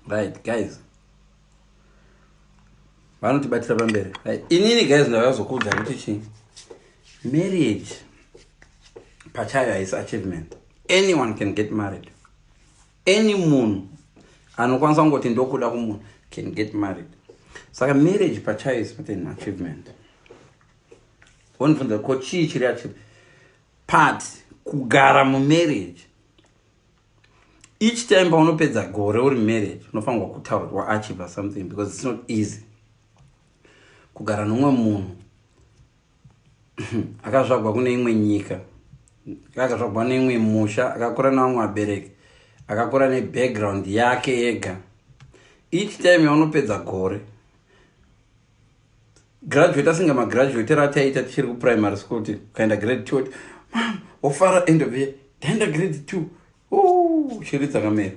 right guys vanotibatira pamberi inini guys ndakazokuudza kuti chii marriage pachayo haisi achievement anyone can get married any munhu anokwanisa kungoti ndokuda kumunhu can get married saka marriage pachayo is not an achievement wonibvunza ko chii chiri achievement part kugara mumarriage each time paunopedza gore uri marriage unofanirwa kutaura kuti waachiva something because its not easy kugara nomwe munhu akazvagwa kune imwe nyika akazvagwa neimwe musha akakura nevamwe vabereki akakura nebackground yake yega each time yaunopedza gore graduate asinga magraduate rataiita tichiri kuprimary school ti ukaenda grade two ti mam wofara end of year ndaenda grade two shiri dzakamera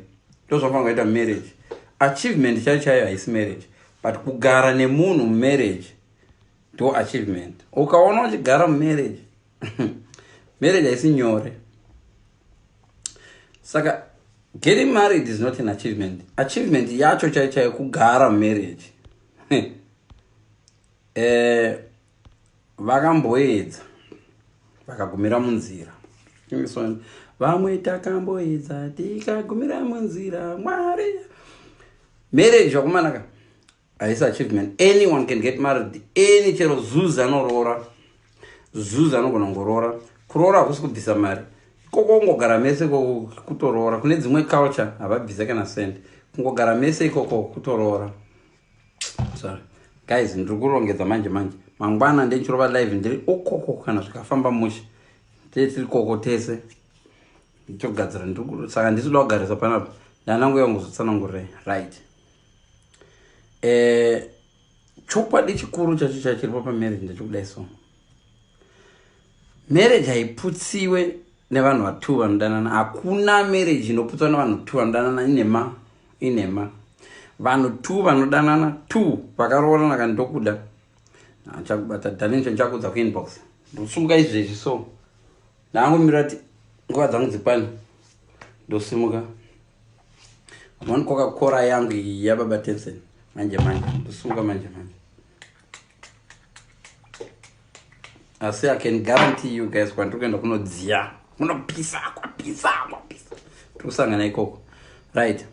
ndo zvafana kuita marriage achievement chaiyo chaiyo haisi marriage but kugara nemunhu mumarriage ndo achievement ukaona uchigara mumarriage marriage haisi nyore saka getting married is not an achievement achievement yacho chaiyo chaiyo kugara mumarriage eh, vakamboedza vakagumira munzira vamwe takamboedza tikagumira munzira mwari marriage vakumanaka haisi achievement anyone can get married any chero zuzi anoroora zuzi anogona kungoroora kuroora hakusi kubvisa mari ikoko kungogara mese kutoroora kune dzimwe culture havabvise kana send kungogara mese ikoko kutoroora sorry guys ndiri kurongedza manje manje mangwana ndenchirova live ndiri ukoko kana zvikafamba mushe tee tiri koko tese ndichogadzira saka ndisi kuda kugarisa panapa ndanangu yangu zotsanangurei right eh, chokwadi chikuru chacho chachiripo pamarriage ndechokudai so marriage haiputsiwe nevanhu vatu vanodanana hakuna marriage inoputswa nevanhu tu vanodanana inema inema vanhu tu vanodanana tu vakaroorana ka ndokuda achakubata danincho ndichakudza kuinbox ndosumuka izvezvi so ndaangomirira kuti nguva dzangu dzikwane ndosimuka Amon koka kora yangu iyi ya baba Tensen. Manje manje, ndosunga manje manje. I say I can guarantee you guys kwandiri kuenda kunodziya. Kunopisa, kwapisa, kwapisa. Tiri kusangana ikoko. Right.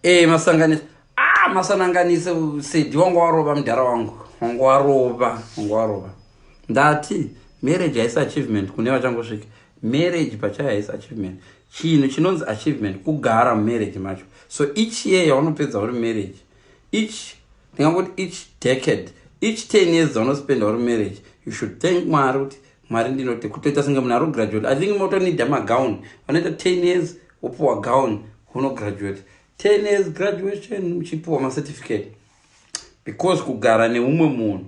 Eh, masanganisa. Ah, masananganisa sedi wangu warova mudhara wangu. Wangu warova, wangu warova. Ndati marriage haisi achievement kune vachangosvika. Marriage pachayo haisi achievement. Chinhu chinonzi achievement kugara mumarriage macho. So each year yaunopedza uri marriage, each ndingangoti each decade, each 10 years dzaunospenda uri marriage, you should thank Mwari kuti Mwari ndinote kutoita senge munhu ari kugraduate. I think motonida magown. Vanoita 10 years wopuwa gown unograduate. 10 years graduation uchipuwa macertificate. Because kugara neumwe munhu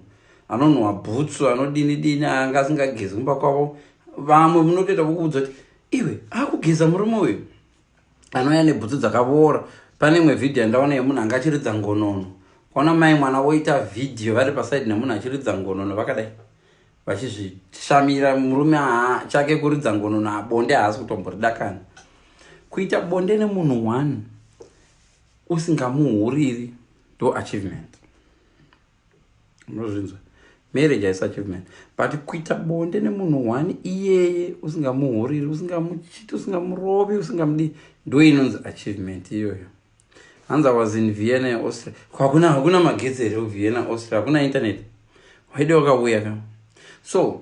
anonhuwa bhutsu anodini dini anga asingagezi kumba kwavo vamwe munotoita vokuudza kuti iwe akugeza murume uyu anouya nebhutsu dzakavora pane imwe vhidhiyo yandaona yemunhu anga achiridza ngonono kwaona mai mwana woita vhidhiyo vari pasaidi nemunhu achiridza ngonono vakadai vachizvishamira murume haa chake kuridza ngonono abonde haasi kutomboridakana kuita bonde nemunhu one usingamuhuriri ndo achievement munozvinzwa marriage haisi achievement but kuita bonde nemunhu one iyeye usingamuhuriri usingamuchiti usingamurovi usingamudii ndo inonzi achievement iyoyo hanzi was in vienna yeaustria hakuna hakuna magetsi here kuvienna austria hakuna internet waide wakauya ka so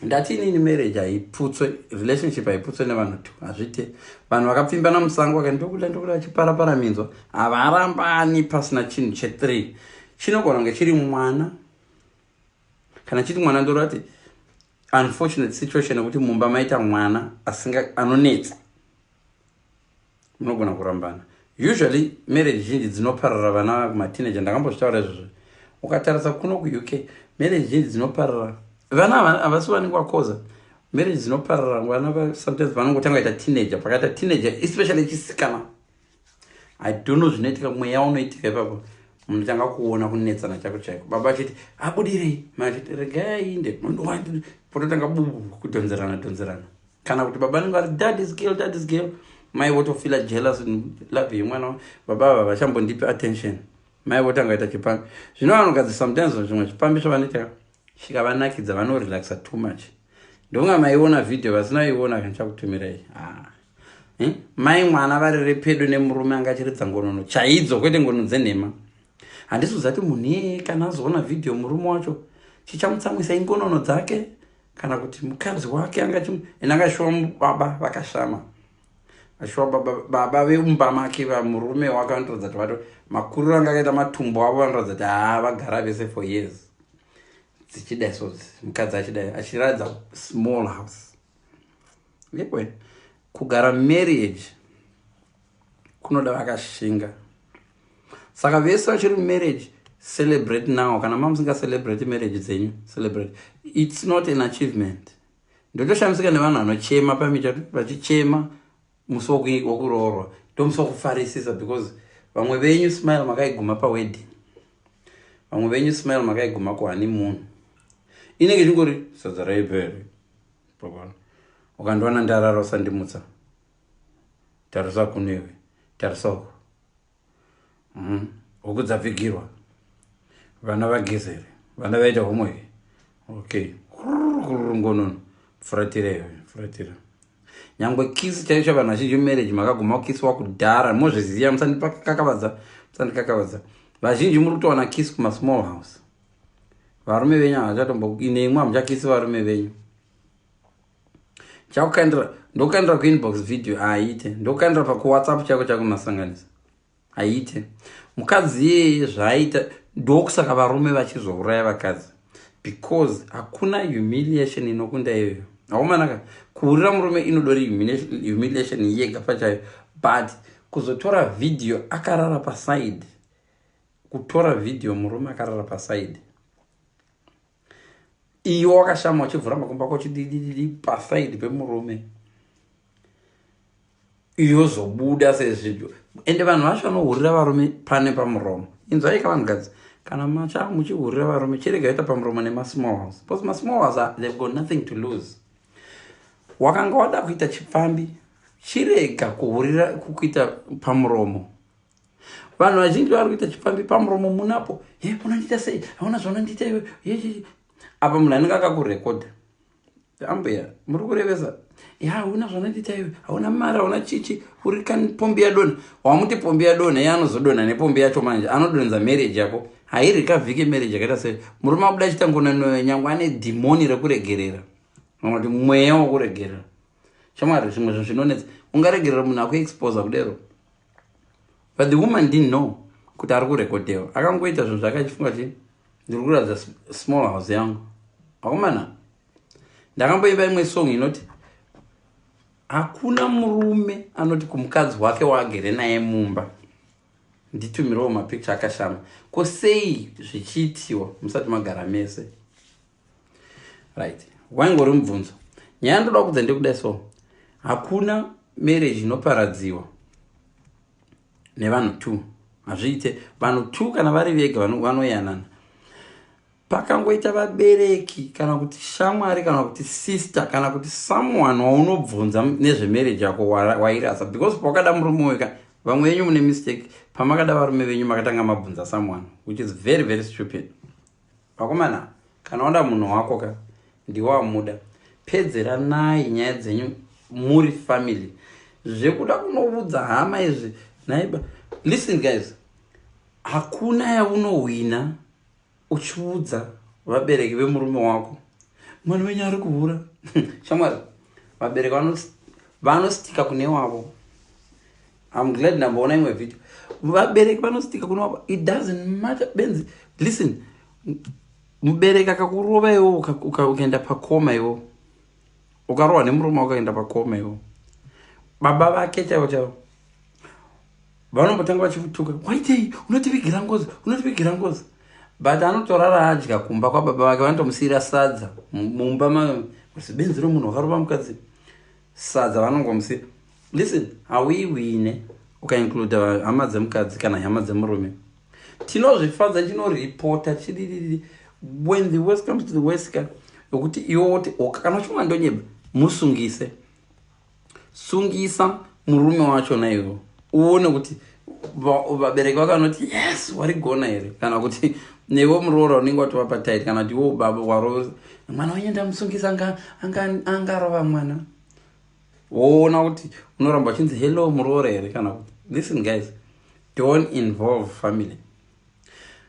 ndati inini marriage haiputswe relationship haiputswe nevanhu two hazvite vanhu vakapfimbana musango vaka ndokuda ndokuda vachiparapara minzwa havarambani pasina chinhu chethree chinogona kunge chiri mwana kana chiti mwana ndorati unfortunate situation yekuti mumba maita mwana asinga anonetsa munogona kurambana usually marriage zhinji dzinoparara vana kumateenager ndakambozvitaura izvozvo ukatarisa kuno kuuk marriage zhinji dzinoparara vana havasi vanenge vakoza marriage dzinoparara vana sometimes vanongotanga ita teenager pakaita teenager especially chisikana i don't know zvinoitika mweya unoitika ipapo munotanga kuona kunetsana chako chaiko baba achiti abudirei machiti regai inde pototanga bubu kudhonzerana dhonzerana kana kuti baba vanenge vari dad is girl dad is girl mai votofila jealous love yemwana baba ava vachambondipi attention mai votanga ita chipambi zvino vanogadzisa sometimes zvimwe chipambi zvavanoita chikavanakidza vanorelaxa too much ndonga maiona video vasina iona kanchakutumirai ah. Eh? mai mwana vari repedo nemurume anga achiridza ngonono chaidzo kwete ngono dzenhema handisi kuzati munhu iye kana azoona vhidhiyo murume wacho chichamutsamwisa ingonono dzake kana kuti mukadzi wake anga chimu and anga shuwa baba vakashama ashuwa baba baba vemumba make vamurume wake vanotoratidza kuti vato makuriro anga akaita matumbo avo vanoratidza kuti haa vagara vese for years dzichidai so mukadzi achidai achiratidza small house yekwe kugara marriage kunoda vakashinga saka vese vachiri mumarriage celebrate now kana mamusinga celebrate marriage dzenyu celebrate its not an achievement ndotoshamisika nevanhu vanochema pamicha vachichema musi wokuroorwa ndomusi wokufarisisa because vamwe venyu smile makaiguma pawedding vamwe venyu smile makaiguma kuhani munhu inenge chingori sadza raipere ukandiwana ndarara usandimutsa tarisa kuno iwe tarisa uko mm. huku dzapfigirwa vana vagezere vana vaita homwe here okay ngonono furatira iwe furatira nyangwe kisi chaicho vanhu vazhinji mumarriage makaguma kukisi wakudhara mozviziva musandipakakavadza musandikakavadza vazhinji muri kutowana kisi kumasmall house varume venyu havachatombo ine imwe hamuchakisi varume venyu chakukandira ndokandira kuinbox video haiite ndokandira pakuwhatsapp chako chakumasanganisa haiite mukadzi iyeye zvaaita ndokusaka varume vachizouraya vakadzi because hakuna humiliation inokunda iyoyo aomanaka kuurira murume inodori humiliation yega pachayo but kuzotora video akarara paside kutora video murume akarara paside iwe wakashama uchivhura makumbo ako chididididi pasaidi pemurume yozobuda sezvibyo ende vanhu vacho vanohurira varume pane pamuromo inzwaika vanhu gadzi kana macha muchihurira varume chirega ita pamuromo nemasmall house because masmall house ah, they've got nothing to lose wakanga wada kuita chipfambi chirega kuhurira kukuita pamuromo vanhu vazhinji vari kuita chipfambi pamuromo munapo he unondiita sei hauna zvaunondiita iwe apa munhu anenge akakurekodha ambuya muri kurevesa ya hauna zvaunondiita iwe hauna mari hauna chichi uri kani pombi yadonha wamuti pombi yadonha iye anozodonha nepombi yacho manje anodonza marriage yako hairi kavhike marriage yakaita sei murume abuda achiita ngonanoyo nyangwe ane dhimoni rekuregerera kana kuti mweya wekuregerera shamwari zvimwe zvinhu zvinonetsa ungaregerera munhu akuexposa kudero but the woman didn't know kuti ari kurekodhewa akangoita zvinhu zvake achifunga kuti ndiri kuratidza small house yangu akomana ndakamboimba imwe song inoti hakuna murume anoti kumukadzi wake waagere naye mumba nditumirewo mapicture akashama ko sei zvichiitiwa musati magara mese right waingori mubvunzo nyaya ndoda kudza ndekuda so hakuna marriage inoparadziwa nevanhu two hazviite vanhu two kana vari vega vanoyanana pakangoita vabereki kana kuti shamwari kana kuti sister kana kuti someone waunobvunza nezvemarriage yako wairasa because pawakada murume uyo ka vamwe venyu mune mistake pamakada varume venyu makatanga mabvunza someone which is very very stupid Vakomana kana wada munhu wako ka ndiwo amuda pedzeranai nyaya dzenyu muri family zvekuda kunovudza hama izvi naiba listen guys hakuna yaunohwina uchiudza vabereki vemurume wako mwana wenyu ari kuhura shamwari vabereki vanostika kune wavo im glad ndamboona imwe video vabereki vanostika kune wavo it doesn't matter benzi listen mubereki akakurova iwo ukaenda pakoma iwo ukarohwa nemurume ukaenda pakoma iwo baba vake chaivo chaivo vanombotanga vachimutuka waitei unotivigira ngozi unotivigira ngozi but anotorara adya kumba kwababa vake vanotomusiyira sadza mumba mazibenzi romunhu wakarova mukadzi sadza vanongomusiyira listen hauiwine ukaincluda hama dzemukadzi kana hama dzemurume tinozvifadza tinoripota chidididi when the west comes to the west ka yokuti iwo woti oka kana uchimwa ndonyeba musungise sungisa murume wacho naivo uone kuti vabereki vakanoti yes warigona here kana kuti nevo muroora unenge watovapa tit kana kuti wo baba waro mwana wenye ndamusungisa angarova mwana woona kuti unoramba uchinzi hello muroora here kana kuti listen guys don't involve family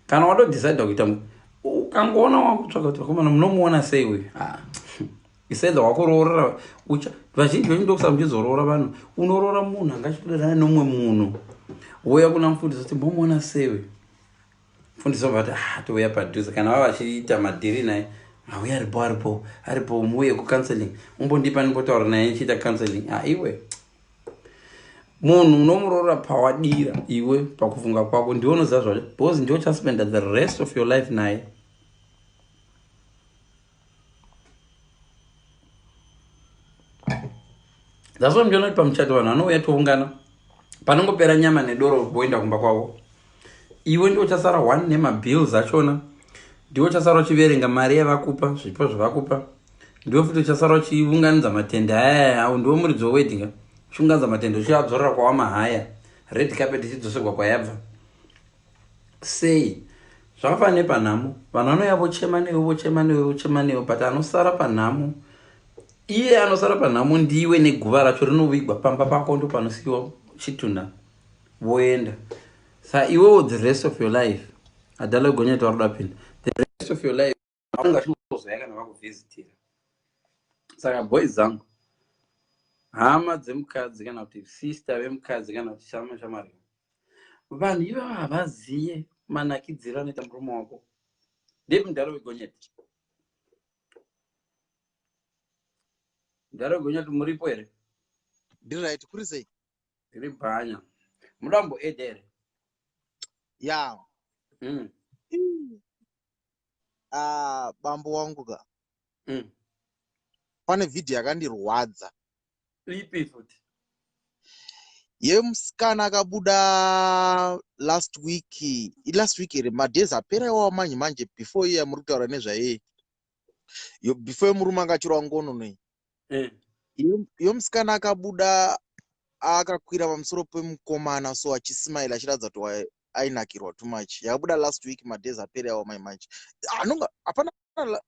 kana watodecide kuita ukangoona wakutsvaka kuti vakomana munomuona sei uyu ah. isenda wakoroora ucha vazhinji venyu ndokusaka muchizoroora vanhu unoroora munhu anga achitodanana nomwe munhu wouya kuna mufundisi kuti mbomuona sewe mufundisi obva kuti ah touya padhuze kana vava vachiita madhiri naye auya aripo aripo aripo muuye kucounseling umbondipa ndimbotaura naye ndichiita counseling a ah, iwe munhu unomuroora pawadira iwe pakufunga kwako ndiwe unoziva zvacho because ndiwe uchaspenda the rest of your life naye that's why muchiona kuti pamuchato vanhu vanouya toungana panongopera nyama nedoro voenda kumba kwavo iwe ndiwo chasara one nemabills achona ndiwo chasara uchiverenga mari yavakupa zvipo zvavakupa ndiwo futi uchasara uchiunganidza matende aya au ndiwo muridzo weweddinga uchiunganidza matende uchiadzorera kwawamahaya red carpet ichidzoserwa kwayabva Sei? Zvakafanana nepanhamo, vanhu vanouya vochema newe, vochema newe, vochema newe, but anosara panhamo, iye anosara panhamo ndiwe neguva racho rinovigwa pamba pako, ndo panosiyiwa chitunha voenda. Sa iwewo the rest of your life, adala gonyeta roda pinda, the rest of your life. vanenge vachingozvaya kana vakuvhizitira saka boys zangu hama dzemukadzi kana kuti sister vemukadzi kana kuti shama shamari vanhu ivava havaziye manakidziro anoita murume wako ndiri mudhara wegonyeti mudhara wegonyeti muripo here ndiri right kuri sei ndiri bhanya mudambo ede here ya hmm. ah bambo wangu ka mm. pane vhidhiyo yakandirwadza ipi futi yemusikana akabuda last week last week here madays apera iwawa manje manje before iye yamuri kutaura nezvaye yo before yemurume angachirwa ngono nei eh. yomusikana akabuda akakwira pamusoro pemukomana so achismail achiratidza kuti ainakirwa too much yabuda last week madays apere awo mai manje anonga hapana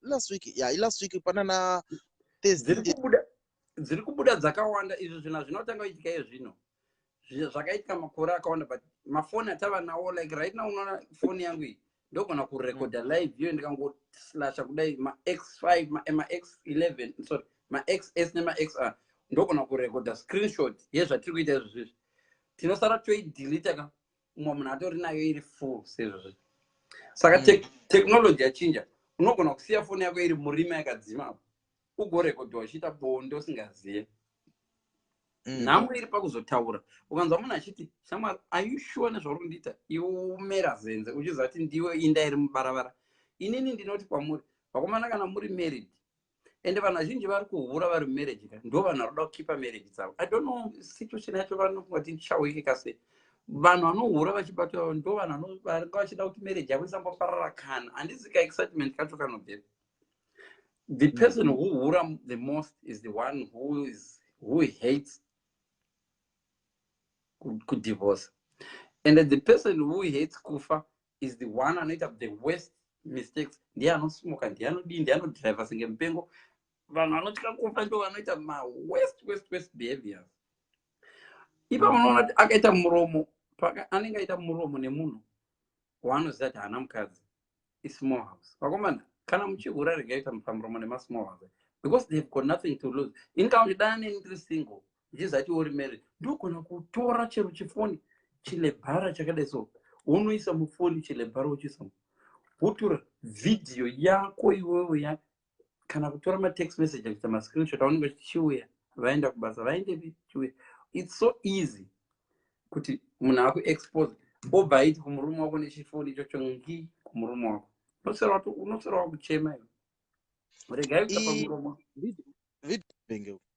last week ya ilast week pana na dziri kubuda dzakawanda izvi zvinhu zvinotanga kuitika iye zvino zvakaitika makore akawanda but mafoni atava nawo like right now unoona foni yangu iyi ndogona kurekodha mm. live iyo ndikangoslasha kudai max five max eleven sorry max s nemax r ndogona kurekodha screenshot yezvatiri kuita izvi zvizvi tinosara toidilita ka umwe munhu atori nayo iri full sezvozvi saka mm. technology yachinja unogona kusiya foni yako iri murima yakadzima apo ugorekodhiwa uchiita bonde usingazive mm. nhamo iri pakuzotaura ukanzwa munhu achiti shamwari ayushuwa nezvauri kundiita iwe umera zenze uchiziva kuti ndiwe inda iri mubaravara inini ndinoti kwamuri vakomana kana muri married ende vanhu vazhinji vari kuhura vari mumarriage ka ndo vanhu vanoda kukipa marriage dzavo i don't know situation yacho vanofunga kuti ndichaweke kase vanhu vanohura vachibatwa ndo vanhu vanga vachida kuti marriage yavo isamboparara kana handizi ka excitement kacho kanobvepi the mm. person who hura the most is the one who is who hates kudivorce and the person who hates kufa is the one anoita the worst mistakes ndiye anosmoka ndiye anodii ndiye anodriver senge mupengo vanhu vanotya kufa ndo vanoita mawest west west behaviors ipa unoona kuti akaita muromo paka anenge aita muromo nemunhu waanoziva kuti haana mukadzi ismall house vakomana kana muchihura regai kuti mupamuromo nemasmall house because they've got nothing to lose inkaunti dana neni ndiri single zvizacho uri married ndogona kutora chero chifoni chilebhara chakadai so unoisa mufoni chilebhara uchiisa wotora vhidhiyo yako iwewo ya kana kutora matext message akuita mascreenshot aunenge chichiuya vaenda kubasa vaendepi chiuya its so easy kuti munhu akuexpose obva aiti kumurume wako nechifoni ichocho ngi kumurume wako unosera wakuchema iwe regai kuta pamuromo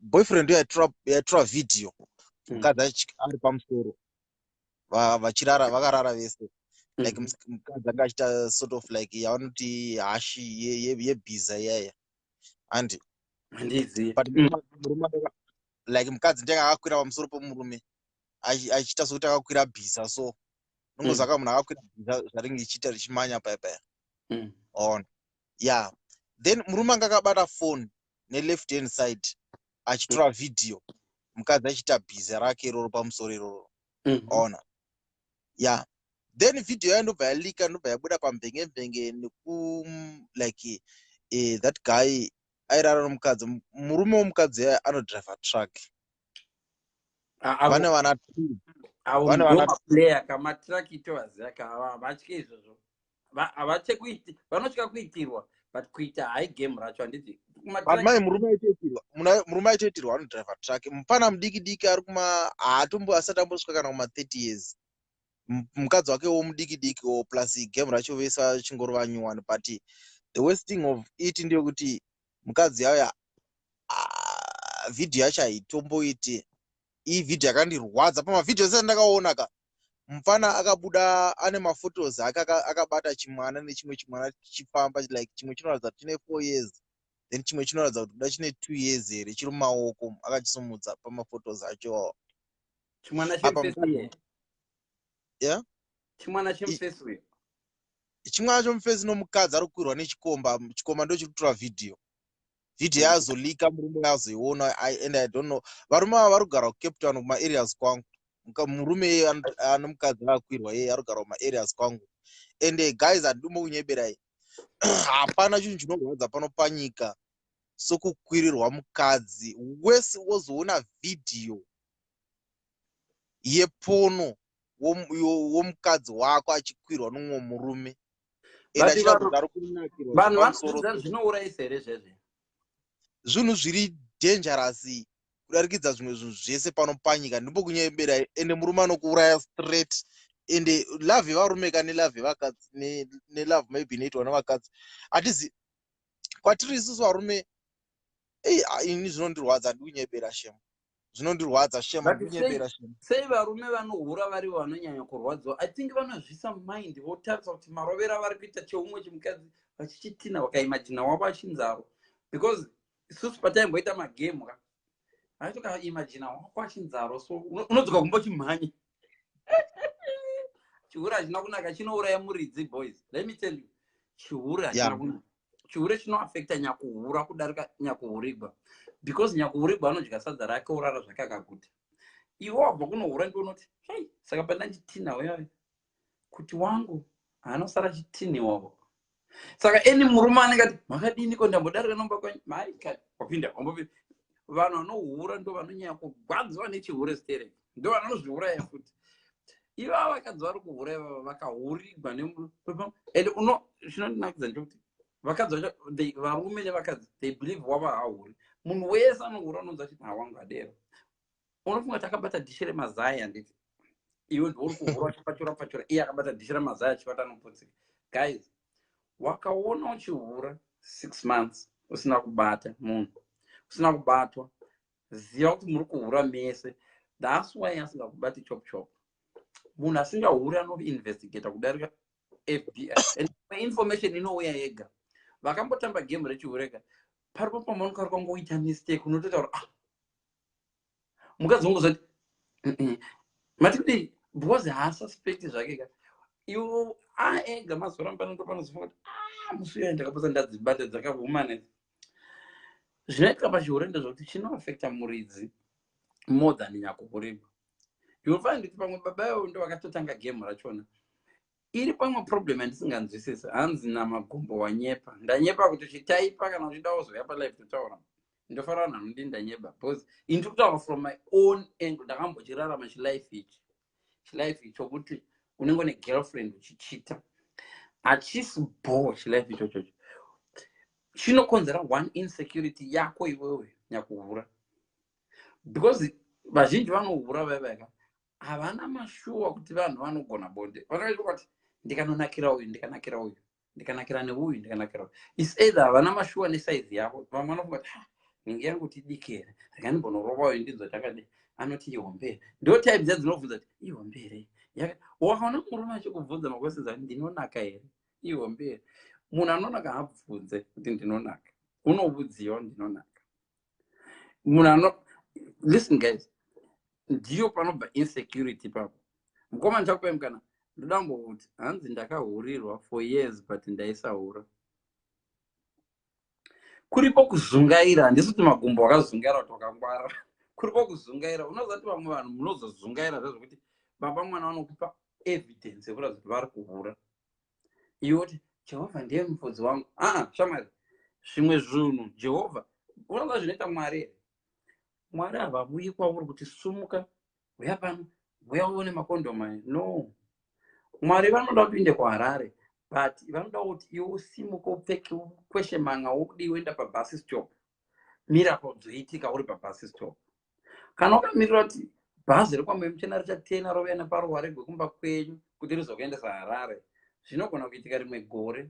boyfriend yaitora video hmm. mukadzi ari pamusoro vachirara vakarara vese like hmm. mukadzi anga achita sort of like yavanoti hashi yebhiza iyaya handi like mukadzi ndenge akakwira pamusoro pomurume achiita sokuti akakwira bhiza so nongozaka hmm. munhu akakwira bhiza zvaringe ichiita richimanya paya paya ona ya then murume anga akabata phone neleft hand side achitora video mukadzi achiita bhiza rake iroro pamusoro iroro mhm. ona ya then video yayo ndobva yalika ndobva yabuda pambenge mbenge neku like eh, that guy airara nomukadzi murume womukadzi yayo anodriver truck vane vana two vane vana two player kama truck itovaziva kava vatye izvozvo havatye kuiti vanotya kuitirwa but kuita hai game racho handiti mai murume aitoitirwa murume aitoitirwa anodriver truck mupana mudiki diki ari kuma haatombo asati ambosvika kana kuma 30 years mukadzi wake wo mudiki diki wo plus game racho vese vachingori vanyuwani but the worst thing of it ndeyekuti mukadzi yauya ah, vhidhiyo yacho haitomboiti iyi video yakandirwadza pamavideo ese andakaona ka mupfana akabuda ane maphotos ake akabata chimwana nechimwe chimwana chichifamba like chimwe chinoratidza kuti chine four years then chimwe chinoratidza kuti kuda chine two years here chiri mumaoko akachisumudza pamaphotos acho chimwana chimwana chomufesi nomukadzi ari kukwirwa nechikomba chikomba ndochiri kutora vhidhiyo video mm. yazolika murume azoiona and i don't know varume ava vari kugara kucape town kumaareas kwangu murume iye ane mukadzi vakwirwa iye ari kugara kumaareas kwangu and guys handidumo kunyeberai hapana chinhu chinorwadza pano panyika sokukwirirwa mukadzi wese wozoona vhidhiyo yepono womukadzi wako achikwirwa nomumwe murume vanhu vanodzidza zvinourayisa here zvezve zvinhu zviri dangerous kudarikidza zvimwe zvinhu zvese pano panyika ndipo kunyebera ende murume anokuuraya straight ende love yevarume ka nelove yevakadzi nelove maybe inoitwa nevakadzi hatizi kwatiri isusu varume ei ini zvinondirwadza handikunyebera shema zvinondirwadza shema ndinyepera shema sei varume vanohura vari vanonyanya kurwadziwa i think vanozvisa mind votarisa kuti marovera vari kuita cheumwe chimukadzi vachichitina vakaimajina wavo achinzaro because isusu pataimboita magame ka aitokaimajina wako achinzaro so unodzoka kumbo chimhanya chihura hachina kunaka chinouraya muridzi boys let me tell you chihura hachina kunaka chihure chinoafekta nyakuhura kudarika nyakuhurigwa because nyakuhurigwa anodya sadza rake orara zvake akaguta iwe wabva kunohura ndi unoti hei saka paina chitinha weave kuti wangu anosara chitini wavo saka eni murume anenge ati makadini ko ndambodarika nomba kwenyu maika wapinda wambopinda vanhu vanohura ndo vanonyanya kugwadziwa nechihure stereki ndovanozviuraya futi ivava vakadzi vari kuhura ivava vakahurigwa and uno zvinondinakidza ndekuti vakadzi vacho varume nevakadzi they believe wava hahuri munhu wese anohura unonzi achiti hawangu adero unofunga kuti akabata dhishi remazai handiti iwe ndiuri kuhura uchipachura pachura iye akabata dhishi remazai achibata anoputsika guys wakaona uchihura six months usina kubata munhu usina kubatwa ziva kuti muri kuhura mese thats why asingakubati chop chop munhu asingahuri anoinvestigata kudarika fbi and information inouya yega vakambotamba game rechihureka paripo pamanokaa kwangoita mistake unotoita kuti ah mukadzi wangu zoti mati kudii because haasuspecti zvake ka iwo aega ah, mazoramba notopanozofunga kuti ah musi uya ndakapotsa ndadzibata dzakahumana zvinoitika pachihure ndezvekuti chinoafekta muridzi more than nyakukurima youll find kuti pamwe baba ivo ndo vakatotanga game rachona iri pamwe problem yandisinganzwisisi hanzi namagumbo wanyepa ndanyepa kuti chitaipa kana uchida wozouya palife totaura ndofanira vanhu vanondi ndanyeba because ini tiri kutaura from my own angle ndakambochirarama chilife ichi chilife icho kuti unenge une girlfriend uchichita hachisi bho chilife ichochocho chinokonzera one insecurity yako iwewe nyakuhura because vazhinji vanohura vaivaka havana mashuwa kuti vanhu vanogona bonde vanoita kuti ndikanonakira uyu ndikanakira uyu ndikanakira neuyu ndikanakira is either havana mashuwa nesaizi yavo vamwe vanofunga kuti ah, nenge yangu tidiki here rega ndimbonorova uyu ndinzwa chakadi anoti ihombere ndo type dza dzinobvunza kuti ihombere wakaona murume achikubvunza makwesezi ati ndinonaka here ihombere munhu anonaka haabvunze kuti ndinonaka unovudziwa ndinonaka munhu ano listen guys ndiyo panobva insecurity papo mukoma ndichakupai mukana ndoda kumbouti hanzi ndakahurirwa for years but ndaisahura kuripo kuzungaira handisi kuti magumbo wakazungaira kuti wakangwara kuripo kuzungaira unoziva kuti vamwe vanhu munozozungaira zvezvekuti baba mwana vanokupa evidence yekuratidza kuti vari kuhura iwe woti jehovha ndiye mufudzi wangu aa shamwari zvimwe zvinhu jehovha unoziva zvinoita mwari here mwari havavuyi kwauri kuti sumuka huya pano huya uone makondoma no mwari vanoda kuti uinde kuharare but vanoda kuti iwe usimuke upfeke ukweshe manga wokudiienda pabus stop mira paudzoitika uri pabus stop kana wakamirira kuti bhazi rekwamwai muchena richatena rovaya neparuware gwekumba kwenyu kuti rizokuendesa harare zvinogona kuitika rimwe gore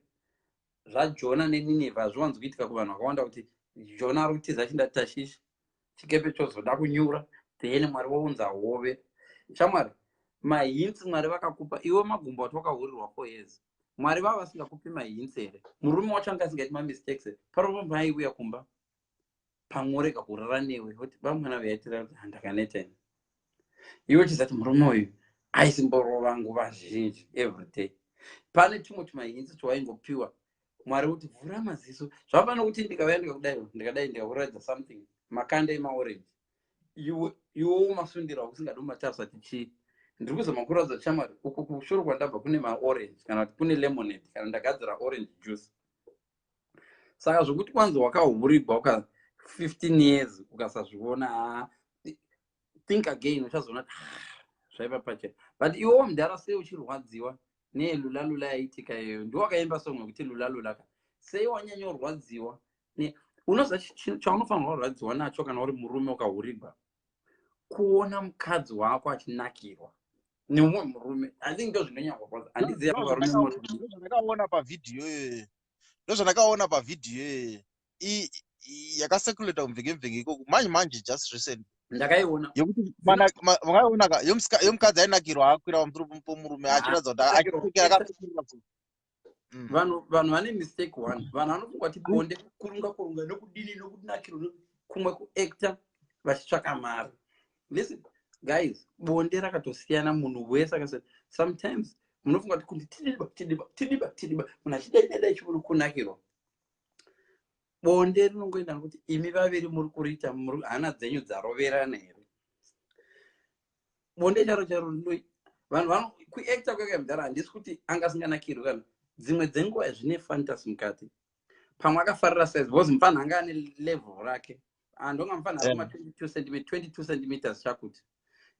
zvajona neninevha hazviwanzi kuitika kuvanhu vakawanda kuti jona ari kutiza chinda tashishi chikepe chozoda kunyura then mwari vounza hove shamwari mahinsi mwari vakakupa iwe magumbo ati wakahurirwa four years mwari vava vasingakupi mahinsi here murume wacho anga asingaiti mamistakes here parova mhai uya kumba pamworega kurara newe kuti vamwana vaitira kuti handakaneta ini iwe chizati murume uyu aisimborova nguva zhinji everyday pane chimwe chimahinzi chawaingopiwa mwari kuti vhura maziso zvafana kuti ndikavaya ndikakudai ndikadai ndikakuratidza something makanda emaorenji iwo umasundira wakusingadi umatasa ti chii ndiri kuzama kuratidza chamwari uku kushoro kwandabva kune maorenji kana kuti kune lemonade kana ndagadzira orange juice saka zvokuti kwanzi wakahurigwa uka 15 years ukasazviona ah, think again uchazoona kuti ah, zvaiva pachena but iwewo mdhara sei uchirwadziwa nelulalula yaitika iyoyo ndiwo akaimba song wekuti lulalula ka sei wanyanyorwadziwa unoziva chaunofanirwa kurwadziwa nacho kana uri murume ukahurigwa kuona mukadzi wako achinakirwa neumwe murume i think ndo zvinonyanyorwadza handiziva zvandakaona pavhidhiyo iyoyo ndo zvandakaona pavhidhiyo iyoyo yakaseculator kumvenge mvenge ikoko manje manje just recent ndakaiona yomukadzi ainakirwa akwira pamusoro pomurume achiratidza kuti mm. vanhu vanhu vane mistake one vanhu vanofunga kuti bonde kurunga kurunga nokudini nokudinakiro kumwe kuacta vachitsvaka mari listen guys bonde rakatosiyana munhu wese akasa sometimes munofunga kuti kuti tidiba tidiba tidiba tidiba munhu achidaidadai chimuno kunakirwa bonde rinongoenda nokuti imi vaviri muri kuriita hana dzenyu dzaroverana here bonde charo charo ndoi vanhu vano kuacta kwekuya mudhara handisi kuti anga asinganakirwi kana dzimwe dzenguva zvine fantasy mukati pamwe akafarira size because mufana anga ane level rake andonga ah, mufana akuma 22 cm 22 centimeters chakuti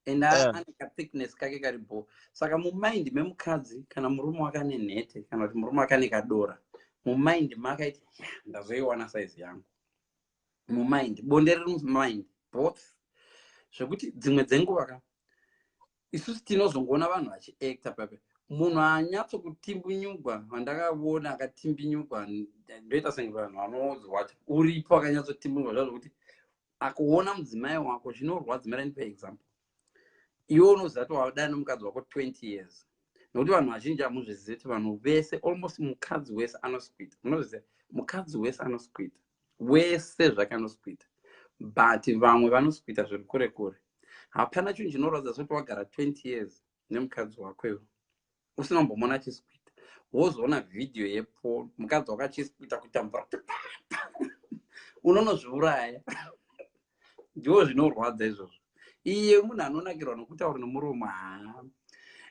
and ane kathickness kake kari bho saka mumind memukadzi kana murume wakane nhete kana kuti murume wakane kadora mumind makaiti ndazoiwana size yangu mumind bonde riri mumind both zvekuti dzimwe dzenguva ka isusu tinozongoona vanhu vachiacta pape munhu anyatso kutimbunyugwa vandakavona akatimbinyugwa ndoita senge vanhu vanozwacha uripo akanyatsotimbunyugwa zvazvokuti akuona mudzimai wako zvinorwadza mara ndipa example iwe unozati wavadana nomukadzi wako 20 years nokuti vanhu vazhinji hamuzvizivi kuti vanhu vese almost mukadzi wese anosikwita munozviziva mukadzi wese anosikwita wese zvake anosikwita but vamwe vanosikwita zviri kure kure hapana chinhu chinoratidza sokuti wagara 20 years nemukadzi wako iwe usina kumbomona achisikuita wozoona vhidhiyo yepo mukadzi wako achisikuita kuita mvura kuti unonozviuraya ndiwo zvinorwadza izvozvo iye munhu anonakirwa nokutaura nomuromo haa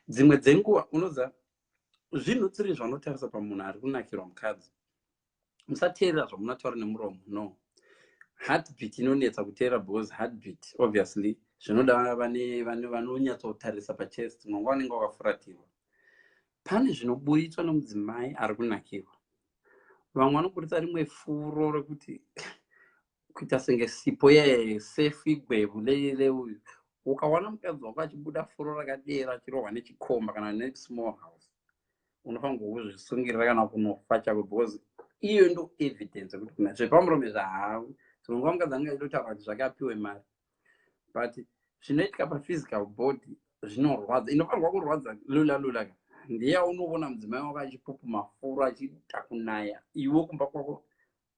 dzimwe dzenguva unoza zvinhu tsiri zvanotarisa pamunhu ari kunakirwa mukadzi musateerera zvamunataura nemuromo no heartbeat inonetsa kuteera because heartbeat obviously zvinoda vanonyatsotarisa pachest mwanga wanenge wakafuratirwa pane zvinoburitswa nomudzimai ari kunakirwa vamwe vanoburitsa rimwe furo rekuti kuita senge sipo yesefu igwevu leuyu ukawana mukadzi wako achibuda furo rakadera achirohwa nechikomba kana nesmall house unofanirwa kuzvisungirira kana kunofa chako because iyo ndo evidence yekuti kuna zvepamurume zvahavu dzimwe nguva mukadzi anenge achitotaura kuti zvake apiwe mari but zvinoitika paphysical body zvinorwadza inofanirwa kurwadza lula lula ka ndeya unovona mudzimai wako achipupuma furo achiita kunaya iwe kumba kwako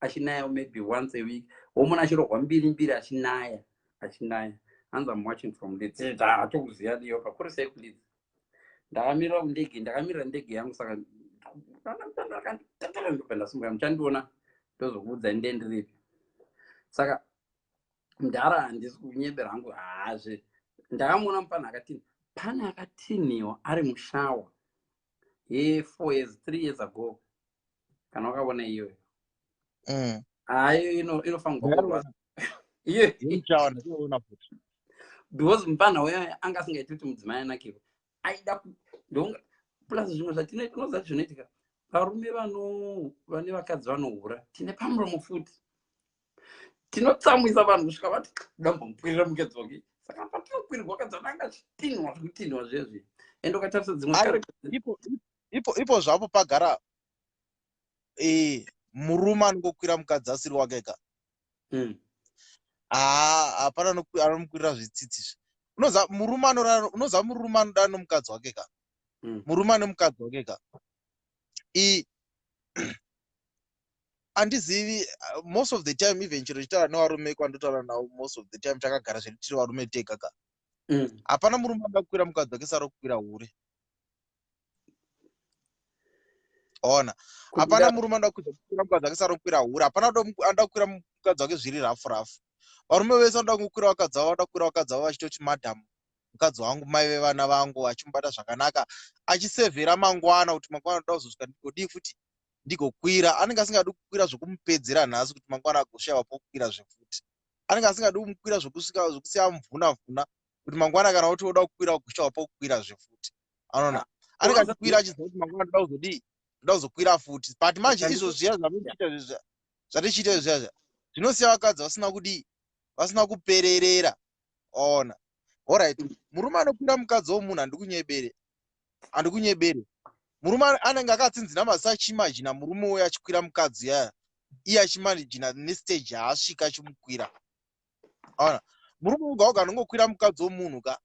achinaya maybe once a week womona achirohwa mbiri mbiri achinaya achinaya hanzi am watching from leads hatokuziva ndiyo pakuri sei kuleads ndakamirira kundege ndakamirira ndege yangu saka ndopendasimuka muchandiona ndozokuudza inde ndiripi saka mdhara handisi kunyebera hangu hazve ndakamuona mupana akatini pane akatiniwa ari mushawa ye four years three years ago kana wakavona iyoyo mm. hayo ah, inofanirwa because mupana uyo anga asingaiti kuti mudzimai anakirwa aida plus zvimwe zvatinoita unoziva zvinoitika varume vano vane vakadzi vanohura tine pamuromo futi tinotsamwisa vanhu kusvika vati dambomukwirira mukedzi wake saka patinokwirwa vakadzi vano angachitinhwa zvekutinhwa zvezvi and ukatarisa dzimwe ipo ipo zvapo pagara eh murume anongokwira mukadzi asiri wake ka mm. haa hapana anomukwirira zvitsitsi zve unoza murume anorara unoza murume anoda nomukadzi wake ka mm. murume ane mukadzi wake ka i handizivi most of the time even chiro chitaura nevarume kwandotaura navo most of the time takagara zvedu tiri varume tega ka mm. hapana murume anoda kukwira mukadzi wake saro kukwira hure ona hapana murume anoda kukwira mukadzi wake sarokwira hura hapana anoda kukwira mukadzi wake zviri rafu rafu varume vese vanoda kungokwira vakadzi vavo vanoda kukwira vakadzi vavo vachitoti madhamu mukadzi wangu mai vevana vangu achimubata zvakanaka achisevhera mangwana kuti mangwana anoda kuzosvika ndigodii futi ndigokwira anenge asingadi kukwira zvekumupedzera nhasi kuti mangwana agoshayiwa pokukwira zvefuti anenge asingadi kumukwira zvekusiya mvuna mvuna kuti mangwana kana kuti woda kukwira kugusha wapa kukwira zve futi anoona anenge achikwira achiziva kuti mangwana ndoda kuzodii ndoda kuzokwira futi but manje izvo zviya zvatichiita zviya zvatichiita izvo zviya zviya zvinosiya vakadzi vasina kudii vasina kupererera ona orit murume anokwira mukadzi womunhu handikunyebere handikunyebere murume anenge akatsinzina mazi achimajina murume uyo achikwira mukadzi yaya iye achimanijina nestage yaasvika achimukwira aona murume woga woga anongokwira mukadzi womunhu ka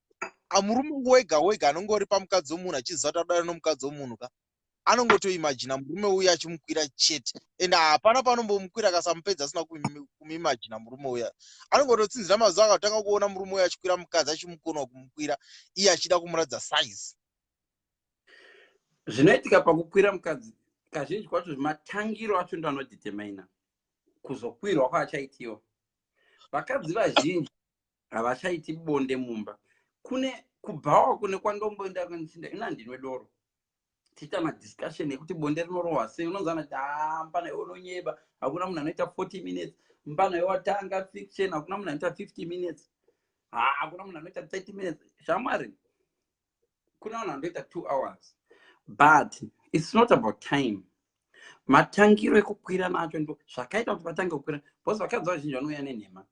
amurume wega wega anongori pamukadzi womunhu achiziva kuti adana nomukadzi womunhu ka anongotoimajina murume uya achimukwira chete and hapana panombomukwira akasamupedza asina kumimajina murume uya anongototsinzira mazuva akatanga kuona murume uya achikwira mukadzi achimukonwa kumukwira iye achida kumuratidza size zvinoitika pakukwira mukadzi kazhinji kwacho zvematangiro acho ndoanodetermina kuzokwirwa kwaachaitiwa vakadzi vazhinji havachaiti bonde mumba kune kubhawa kune kwandomboenda kandichinda ina ndinwe doro tiita madiscussion ekuti bonde rinorohwa sei unonzana kuti haa mpana iwe unonyeba hakuna munhu anoita 40 minutes mpana iwe watanga fiction hakuna munhu anoita 50 minutes haa hakuna munhu anoita 30 minutes shamwari kuna vanhu vanoita two hours but its not about time matangiro ekukwira nacho ndo zvakaita kuti vatange kukwira bcause vakadzi vazhinji vanouya nenhema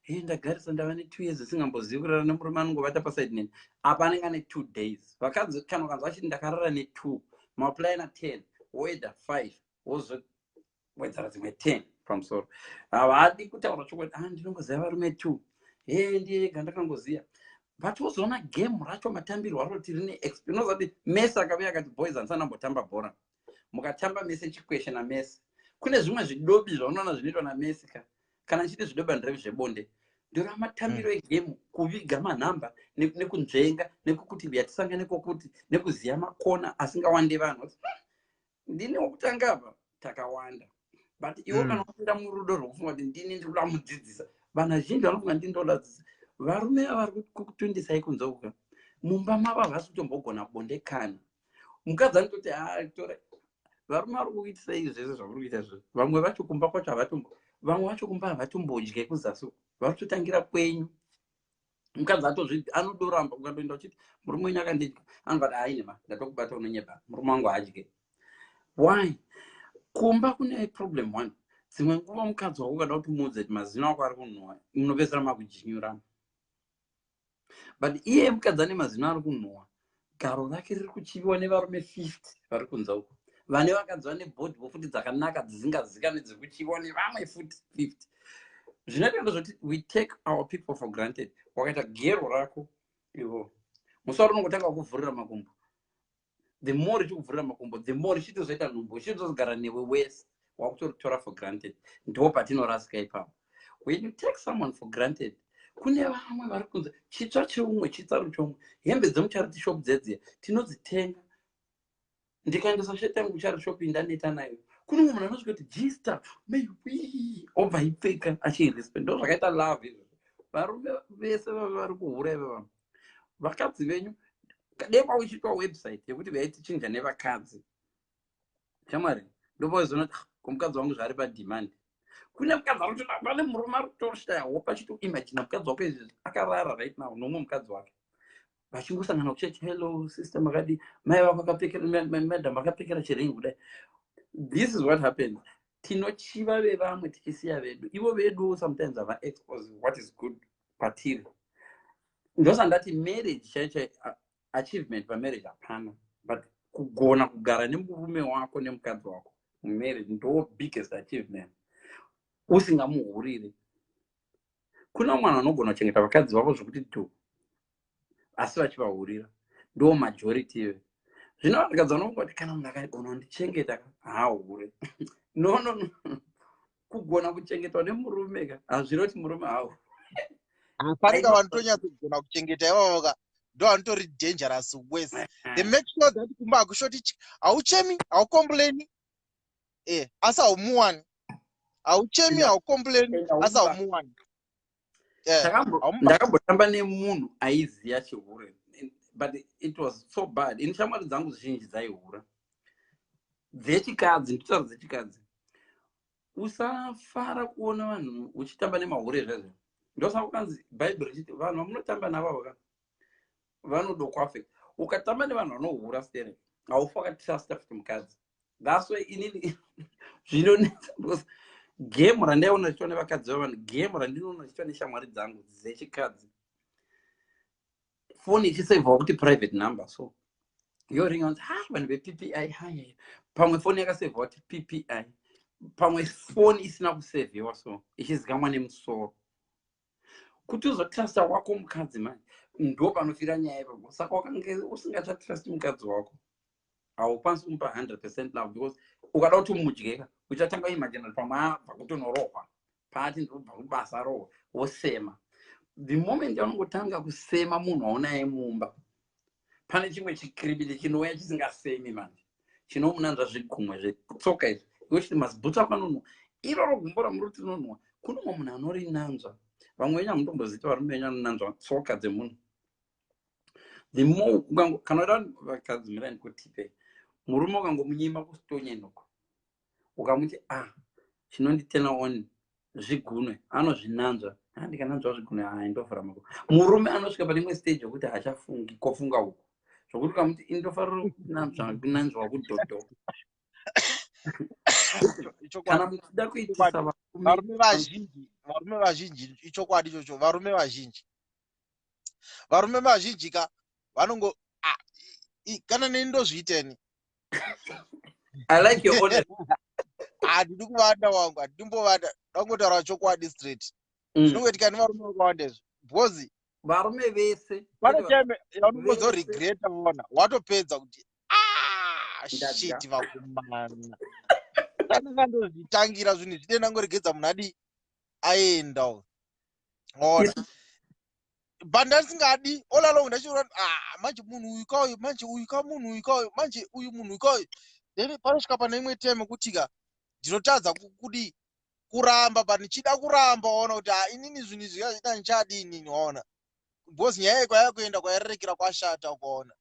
he eh, ndagarisa ndava netwo years isingambozivi kurara nemurume anongovata pasaidi neni apa anenge ane two days vakadzi kana ukanzi vachiti ndakarara netwo maplina ten woeda five wozowedzera dzimwe ten pamusoro havadi kutaura chokwadi a ah, ndinongoziva varume two he ndiye yega ndakangoziva but wozoona game racho matambirwo aro kuti rine expnozati mese akave akati boys andisana ambotamba bhora mukatamba mese chikweshe namese kune zvimwe zvidobi zvaunoona zvinoitwa namese ka kana ndichiti zvidobi andirevi zvebonde ndora matambiro mm. egemu kuviga manhamba nekunzvenga nekukuti viyatisangane kwokuti nekuziva makona asingawande vanhu ndini wokutanga apa takawanda but iwo mm. kana wapinda murudo rwokufunga kuti ndini ndiri kuda kumudzidzisa vanhu vazhinji vanofunga ndini ndoladzidzisa varume ava vari kukutundisai kunzouka mumba mavo havasi kutombogona bonde kana mukadzi anototi atora varume vari kuitisa izvi zvese zvauri kuita zvo vamwe vacho kumba kwacho havatombo vamwe vacho kumba havatombodye kuzasi vari kutotangira kwenyu mukadzi atozvi anodoramba ukadoenda uchiti murume wenyu akandidya anobati hainema ndatokubata unonyeba murume wangu haadye why kumba kune problem one dzimwe nguva mukadzi wako ukada kuti muudze kuti mazino ako ari kunhuwa munopedzisira makujinyurana but iye mukadzi ane mazino ari kunhuwa garo rake riri kuchiviwa nevarume 50 vari kunza uko vane vakadzi vane bhodhi vofuti dzakanaka dzisingazikanwe dziri kuchiviwa nevamwe futi 50 zvinoita ndozvoti we take our people for granted wakaita gero rako ivo musi wari unongotanga kuvhurira makumbo the more richikuvhurira makumbo the more richitozoita nhumbu richitozogara newe wese wakutoritora for granted ndipo patinorasika ipapo when you take someone for granted kune vamwe vari kunzi chitsva cheumwe chitsaro chomwe hembe dzemucharity shop dzedziya tinodzitenga ndikaendesa shet yangu kucharity shop indaneta nayo kune umwe munhu anosvika kuti jista maybe obva ipfeka achiirespect ndo zvakaita love izvo varume vese vave vari kuhura ive vanhu vakadzi venyu dai kwauchiitwa website yekuti vaitichinja nevakadzi shamwari ndopazoona kuti ah, komukadzi wangu zvaari pademand kune mukadzi ari kutoda pane murume ari kutoshaya hope achitoimagina mukadzi wako izvezvi akarara right now nomwe mukadzi wake vachingosangana kuchechi hello sister makadi mai vako akapfekeramadam akapfekera chiringi kudai this is what happens tinochiva vevamwe tichisiya vedu ivo veduwo sometimes hava expose what is good patiri ndosandati marriage chaichai achievement pamarriage hapana but kugona kugara nemurume wako nemukadzi wako mumarriage ndo biggest achievement usingamuhuriri kuna mwana anogona kuchengeta vakadzi vavo zvekuti do asi vachivahurira ndo majority ive zvino vakadzi vanofunga kuti kana munhu akagona kundichengeta haahure no no no kugona kuchengetwa nemurume ka hazvire kuti murume hawo pane ka vanotonyatso kugona kuchengeta ivavo ka ndo vanotori dangerous wes the make sure that kumba hakushoti chi hauchemi haukomplaini e eh, asi haumuwani hauchemi haukomplaini asi haumuwani ndakambotamba nemunhu aiziva chihure but it was so bad ini shamwari dzangu zhinji dzaihura dzechikadzi nditaura dzechikadzi usafara kuona vanhu uchitamba nemahure zvezvo ndosaka kanzi bhaibheri richiti vanhu vamunotamba navo vaka vanodokwafe ukatamba nevanhu vanohura stere haufi wakatitrasta futi mukadzi thats why inini zvinonetsa because gemu randaiona richiitwa nevakadzi vevanhu gemu randinoona richiitwa neshamwari dzangu dzechikadzi foni ichisevhawa kuti private number so yoringa kuti ha vanhu veppi hai pamwe foni yakasevhawa kuti ppi pamwe foni isina kusevhiwa so ichizikamwa nemusoro kuti uzotrusta wako mukadzi manje ndo panofira nyaya ipapo saka wakange usingachatrust mukadzi wako haukwanisi kumupa 100 percent love because ukada kuti umudyeka uchatanga imajinati pamwe abva kutonorohwa paati ndinobva kubasa rohwa wosema the moment yaunongotanga kusema munhu waunaye mumba pane chimwe chikiribidi chinouya chisingafemi manje chinomunanzva zvigumwe zvetsoka izvi yochiti mazibhutsu ako anonhuwa iroro gumbo ramuri kuti rinonhuwa kunomwe munhu anorinanzva vamwe venyu hamutombozita varume venyu anonanzva tsoka dzemunhu the more kana vakadzi mirai ndikutipe murume ukangomunyima kustonya inoko ukamuti ah chinonditena on zvigunwe anozvinanzva ah, ndikananzva zvigunwe haa ah, indovhura mako murume anosvika pane imwe stage yokuti haachafungi kofunga uku zvokuti ukamuti indofarira kunanzva kunanzva kudhodho kana muchida kuitisa varume vazhinji varume vazhinji ichokwadi ichocho varume vazhinji varume vazhinji ka vanongo ah, kana neni ndozviiteni handidi ah, kuvanda wangu handidi mbovanda ndangotaura chokwadi straight mm. zvinongoitika nevarume vakawanda izvo because varume vese pane time yaunongozoregreta vona watopedza kuti ah, shit vakomana kana kandozvitangira zvinhu zvine ndangoregedza munhu adii aendawo ona but ndandisingadi all along ndachiona ah manje munhu uyu ka uyu manje uyu ka munhu uyu ka uyu manje uyu munhu uyu ka uyu then panosvika pane imwe time kuti ka ndinotadza kudii kuramba but ndichida kuramba waona kuti ah, inini zvinhu izvi zvazvita ndichadi inini waona because nyaya iyi kwaya kuenda kwayarerekera kwashata ukaona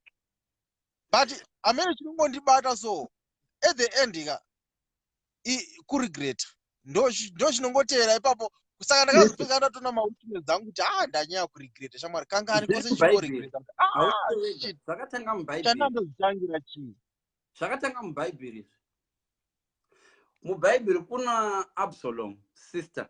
but amene chiri kungondibata so at the end ka kuregreta ndo chinongotevera ipapo saka ndakazopinga ndatona mawitness dzangu kuti haa ah, ndanyaya kuregreta shamwari kangani kwose chikoregretachandandozitangira ah, chii zvakatanga mubhaibheri izvi mubhaibheri kuna absalom sister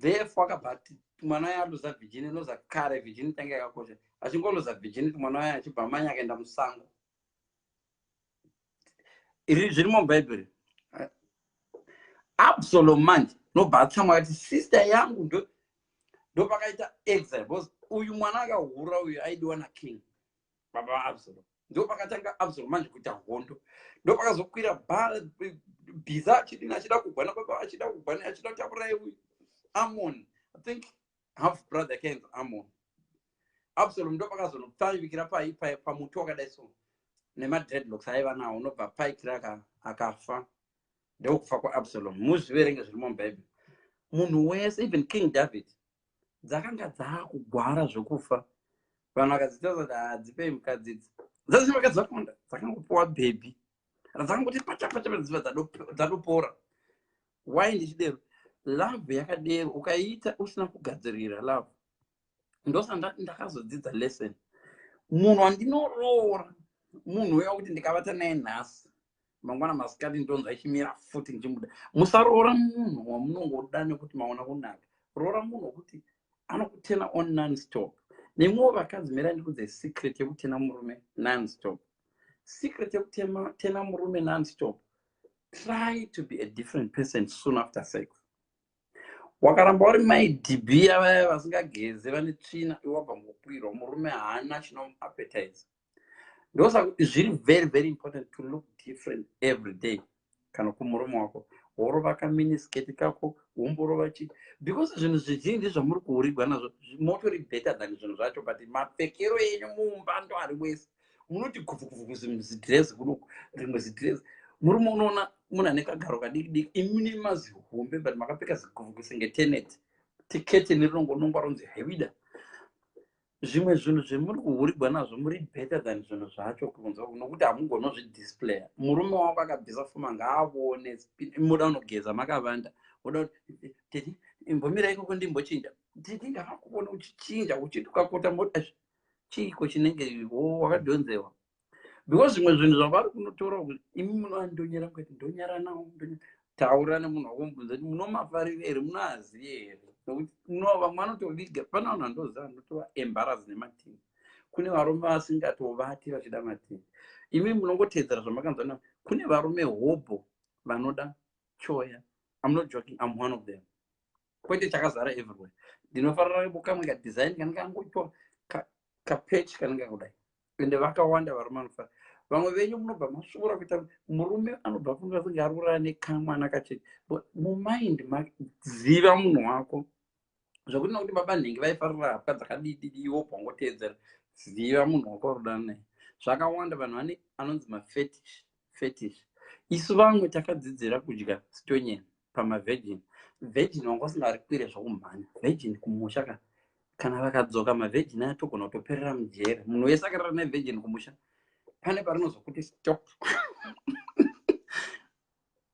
therefore akabva ati mwana waye aluza virginity loza kare virginity yange yakakosha achingoluza virginity mwana waye achibva amanye akaenda musango iri zviri mubhaibheri absalom manje nobva atsamwa akati sister yangu ndo ndopakaita exile because uyu mwana akahura uyu aidiwa naking baba vaabsalom ndopakatanga absor manje kuita hondo ndopakazokwira bhara bhiza achidini achida kugwana baba achida kugwana achida kuti auraye uyu amon i think half brother akaenzi amon absalom ndopakazonopfaivikira pai pai pamuti wakadai so nemadreadlocks aiva nawo unobva paikira akafa ndeukufa kwaabsalom muzviverenge zviri mubhaibheri munhu wese even king david dzakanga dzaakugwara zvekufa vanhu vakadzitaza kuti hadzipei mukadzi idzi dzazii vakadzi vakawanda dzakangopiwa bhebhi radzakangoti pachapachapaiziva dzatopora why ndichidero love yakadero ukaiita usina kugadzirira love ndosandati ndakazodzidza lesson munhu wandinoroora munhu uya kuti ndikavata naye nhasi mangwana masikati ndonzwa ichimira futi ndichimuda musaroora munhu wamunongoda nekuti maona kunaka roora munhu wekuti anokutena on nonstop nemwewo vakadzi mira ndikudze secret yekutena murume nonstop secret yekutena murume nonstop try to be a different person soon after sex wakaramba uri mai dba vaya vasingageze vane tsvina iwabva ngokwirwa murume haana chinomuappetize ndosaka zviri very very important to look different every day kana kumurume wako worova kaminisketi kako womborova chii because zvinhu zvizhinji zvamuri kuurigwa nazvo motori better than zvinhu zvacho but mapfekero enyu mumba ndo ari wese munoti kuvukuvukuz zidress kunoku rimwe zidress murume unoona munhu ane kagaro kadiki diki imune mazihombe but makapfeka ziguvuku senge teneti tiketeni rinongonongwa ronzi hevida zvimwe zvinhu zvemuri kuhurigwa nazvo muri better than zvinhu zvacho kunzwa nokuti hamugonozvidisplaya murume wako akabvisa fuma ngaavone moda unogeza makavanda oda kuti teti imbomira ikoko ndimbochinja teti ndavakuona uchichinja uchiti ukakota moti chiiko chinenge wo wakadhonzewa because zvimwe zvinhu zvavari kunotaura kuti imi munoandonyera kuti ndonyara nawo taura nemunhu wakumubvunza kuti munomafarira here munoaziva here nokuti no vamwe vanotoviga pane vanhu vandoziva vanotova embarasi nematini kune varume vasingatovati vachida matini imi munongoteedzera zvamakanzwa na kune varume hobho vanoda choya am not joking am one of them kwete chakazara everywhere ndinofarira bokamwe kadesign kanenge angoitwa kapechi kanenge kudai ende vakawanda varume anofana vamwe venyu munobva masvora kuita murume anobva funga kunge ari kurara nekamwana kachete mumind maziva munhu wako zvekuti nokuti baba nhingi vaifarira hapwa dzakadididi iwo bwangoteedzera ziva munhu wako arudana naye zvakawanda vanhu vane anonzi mafetish fetish isu vamwe takadzidzira kudya stonyeni pamavirgin virgin wanga usingarikwire zvokumhanya virgin kumusha ka kana vakadzoka mavirgin aya togona kutoperera mujere munhu wese akarara nevirgin kumusha pane parinozokuti stop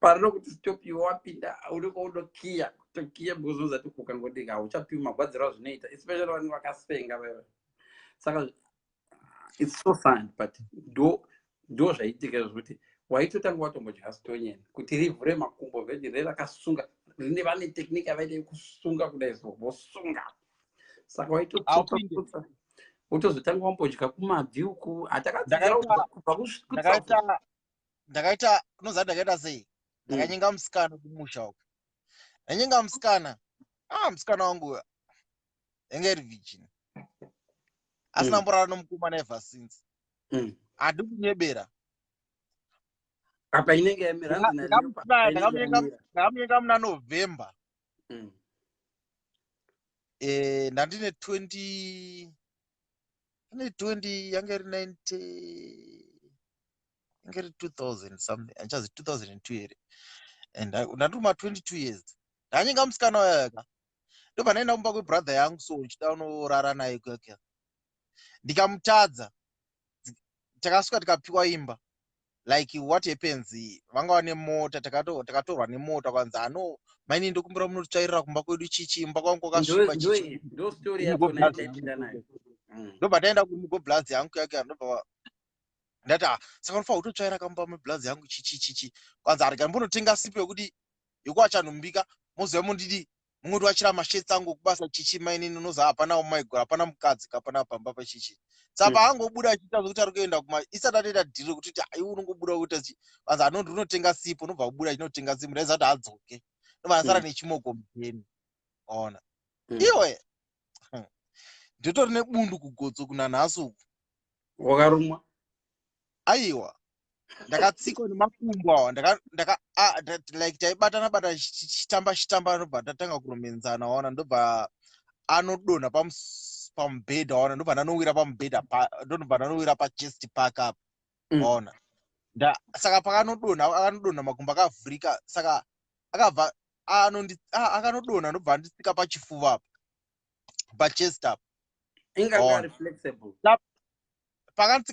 parinokuti stop iwe wapinda unenge unokiya kutokiya because unozati ukangodika hauchapiwi magwadziro azvinoita especially vanenge vakasenga veve saka it's so fun but do do zvaitika zvokuti waitotanga watongodya stonyeni kuti rivhure makumbo vedi re rakasunga rine vane technique avaita yekusunga kudai so vosunga saka waitototsa wotozotanga wambodya kumabvi uku hatakadzidzaubva ndakaita unoziva ndakaita sei mm. ndakanyenga musikana kumusha uku ndanyenga musikana a ah, musikana wangu yanga iri virgin asina mm. mborara nomukomana ever since mm. hadi kunyebera apa inenge yamirandakamuyenga muna november mm. eh, ndandine 20 ane 20 yanga iri 90 yanga iri 2000 something andichazi 2002 here and ndatuma 22 years ndanyenga musikana wayaka ndopanaenda kumba kwebrother yangu so uchida unorara naye keke ndikamutadza takasvika tikapiwa imba like what happens vanga vane mota takatorwa nemota kwanzi ano maini ndokumbira munotsvairira kumba kwedu chichi imba kwangu kwakasviba ndobva taenda kumugoblazi yangu yake ndobva ndati ah, saka unofanira kutotsvaira kamba mublazi yangu chichi chichi kwanzi arega mbonotenga sipo yekuti yokuva chanhumbika moziva mondidii mungoti vachira mashets angu kubasa chichi mainini unoziva hapana umaigura hapana mukadzi kapana pamba pachichi saka hmm. paangobuda achiita zvekuti ari kuenda kuma isati atoita dhiri rekuti ti aiwe unongobuda kuita chi vanzi anondi unotenga sipo unobva kubuda achinotenga sipo ndaiziva kuti adzoke ndobva asara hmm. nechimoko mudeni ona hmm. iwe ndotori nebundu kugotso kunanhasi uku wakarumwa aiwa ndakatsikwa nemakumbo awa like taibatana bata chitamba chitamba anobva tatanga kuromenzana waona ndobva anodonha pamubhedha waona ndobva ndanowira pamubhedha ndonobva ndanowira pachest park apa mm. waona saka pakanodonha akanodonha makumbo akavhurika saka akabva akanodonha ndobva andisika pachifuva apa pachest apa pakandsika